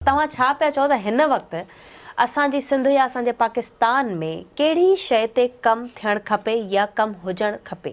توهان ڇا پيا چئو ته هن وقت اسان جي سنڌ يا اسان جي پاڪستان ۾ ڪهڙي شيء تي ڪم ٿيڻ کپي يا ڪم هجڻ کپي؟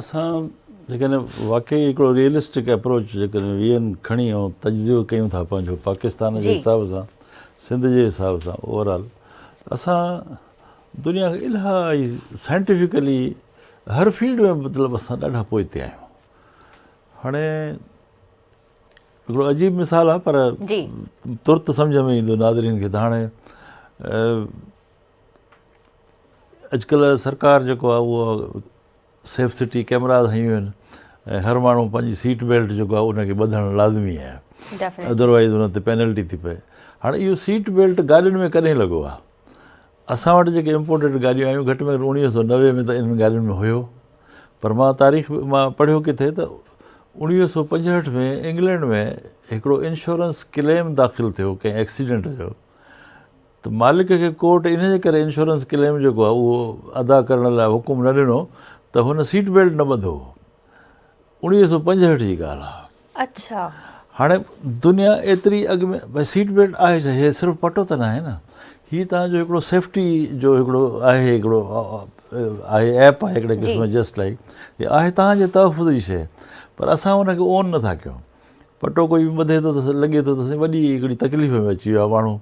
اسان جيڪڏهن واقعي هڪڙو ريئلسٽڪ اپروچ جيڪڏهن ويهن کڻي ۽ تجزيو ڪيون ٿا پنهنجو پاڪستان جي حساب سان سنڌ جي حساب سان اوور آل اسان دنيا کان الهائي سائنٽيفڪلي هر فيلڊ ۾ مطلب اسان ڏاڍا پوئتي آهيون هاڻي هڪڙو عجيب مثال آهي پر ترت سمجهه ۾ ايندو ناظرين کي ته هاڻي اڄڪلهه سرڪار جيڪو آهي اهو سيف سٽي ڪيمراز هنيون آهن ۽ هر ماڻهو پنهنجي سيٽ بيلٽ جيڪو آهي ان کي ٻڌڻ لازمي آهي ادروائيز ان تي پينلٽي ٿي پئي هاڻي اهو سيٽ بيلٽ گاڏين ۾ ڪڏهن لڳو آهي اسان وٽ جيڪي امپورٽيڊ گاڏيون آيون گهٽ ۾ گهٽ اوڻيهه سؤ نوي ۾ ته انهن گاڏين ۾ هيو پر مان تاريخ مان پڙهيو ڪٿي ته اوڻيهه سؤ پنجهٺ ۾ انگلينڊ ۾ هڪڙو انشورنس ڪليم داخل ٿيو ڪنهن ايڪسيڊنٽ جو ته مالڪ کي ڪورٽ ان جي ڪري انشورنس ڪليم جيڪو آهي اهو ادا ڪرڻ لاء حڪم نه ڏنو ته هن سيٽ بيلٽ نه ٻڌو هو اوڻيهه سؤ پنجهٺ جي ڳالهه آهي اڇا. هاڻي دنيا ايتري اڳ ۾ بھي سيٽ بيلٽ آھي ڇا هي صرف پٽو ته ناهي نه هي تان جو هڪڙو سيفٽي جو هڪڙو آهي هڪڙو آهي ايپ آهي هڪڙي قسم جي جسٽ لائيڪ هي آهي تان جي تحفظ جي شيء پر اسان ان کي اون نٿا ڪيون پٽو ڪوئي به ٻڌي ٿو ته لڳي ٿو ته سائين وڏي هڪڙي تڪليف ۾ اچي ويو آهي ماڻهو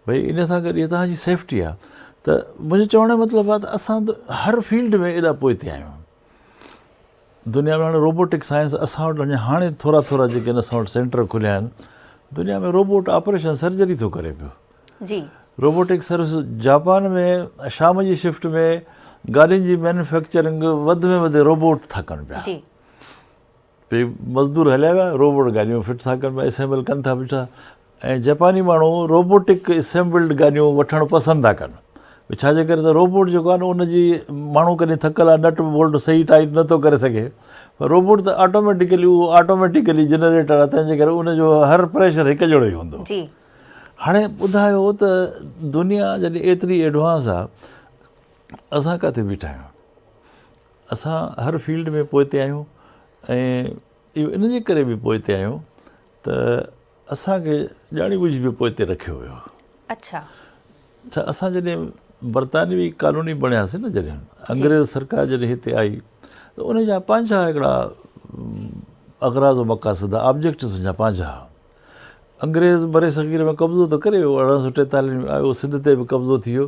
بھي ان سان گڏ هي تان جي سيفٽي آهي ته منهنجي چوڻ جو مطلب آهي ته اسان ته هر فيلڊ ۾ ايڏا پوئتي آهيون دنيا ۾ هاڻي روبوٽڪ سائنس اسان وٽ اڃا هاڻي ٿورا ٿورا جيڪي اسان وٽ سينٽر کليا آهن دنيا ۾ روبوٽ آپريشن سرجري ٿو ڪري پيو جي روبوٽڪ سروس جاپان ۾ شام جي شفٽ ۾ گاڏين جي مينوفيڪچرنگ وڌ ۾ وڌ روبوٽ ٿا ڪن پيا پي مزدور هليا ويا روبوٽ گاڏيون فٽ ٿا ڪن پيا اسيمبل ڪن ٿا بيٺا ۽ جپاني ماڻهو روبوٽڪ اسيمبلڊ گاڏيون وٺڻ پسند ٿا ڪن ڇا جي ڪري ته روبوٽ جيڪو آهي نه ان جي ماڻهو ڪڏهن ٿڪل آهي نٽ بولٽ صحيح ٽائيٽ نٿو ڪري سگهي پر روبوٽ ته آٽوميٽيڪلي اهو آٽوميٽيڪلي جنريٽر آهي تنهنجي ڪري ان جو هر پريشر هڪ جهڙو ئي هوندو هاڻي ٻڌايو ته دنيا جڏهن ايتري ايڊوانس آهي اسان ڪاٿي بيٺا آهيون اسان هر فيلڊ ۾ پوئتي آهيون ۽ اهو ان جي ڪري به پوئتي آهيون ته اسان کي ڄاڻي ٻجهي به پوئتي رکيو ويو آهي. اڇا. اڇا اسان جڏهن برطانوي ڪالوني بڻياسين نه جڏهن انگريز سرڪار جڏهن هتي آئي ته ان جا پنهنجا هڪڙا اغراض و مقاصد آبجيڪٽس ان جا پنهنجا ها. انگريز برصغير ۾ قبضو ته ڪري ويو، ارڙهن سؤ ٽيتاليهه ۾ آيو، سنڌ تي به قبضو ٿي ويو.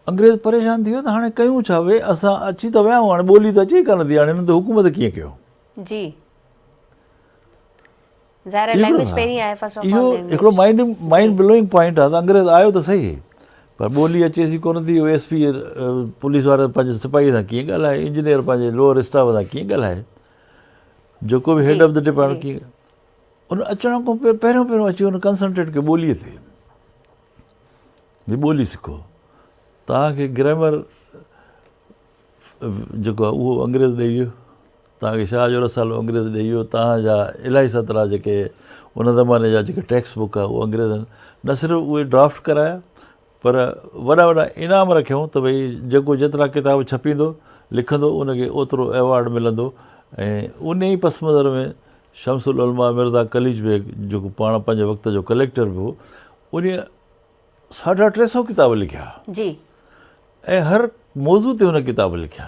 انگريز پريشان ٿي ويو ته هاڻي ڪيون ڇا؟ وي اسان اچي ته ويا آهيون، هاڻي ٻولي ته اچي ئي ڪانه ٿي، هاڻي هنن تي حڪومت ڪيئن ڪيون؟ جي ظاهر آهي لينگويج پهرين آهي فرسٽ آف آل لينگويج. هڪڙو مائنڊ مائنڊ بلوئنگ پوائنٽ آهي ته انگريز آيو ته صحيح پر ٻولي اچيس ئي ڪونه ٿي، ايس پي پوليس وارو پنهنجي سپاهي سان ڪيئن ڳالهائي، انجنيئر پنهنجي لوئر اسٽاف سان ڪيئن ڳالهائي، جيڪو به هيڊ آف دي ڊپارٽمينٽ ڪيئن. ان اچڻ کان پوء پهريون پهريون اچي ان ڪنسلٽنٽ کي ٻوليء تي جي ٻولي سکو توهان کي گرامر جيڪو آهي اهو انگريز ڏئي ويو توهان کي شاهه جو رسالو انگريز ڏئي ويو توهان جا الاهي سترا جيڪي ان زماني جا جيڪي ٽيڪسٽ بڪ آهي اهو انگريزن نه صرف اهي ڊرافٽ ڪرايا پر وڏا وڏا انعام رکيائون ته ڀئي جيڪو جيترا ڪتاب ڇپيندو، لکندو ان کي اوترو ايوارڊ ملندو ۽ انهي ئي پس منظر ۾ شمس العلماء مرزا قليچ بيگ جيڪو پاڻ پنهنجي وقت جو ڪليڪٽر به هو انهي ساڍا ٽي سؤ ڪتاب لکيا ۽ هر موضوع تي هن ڪتاب لکيا.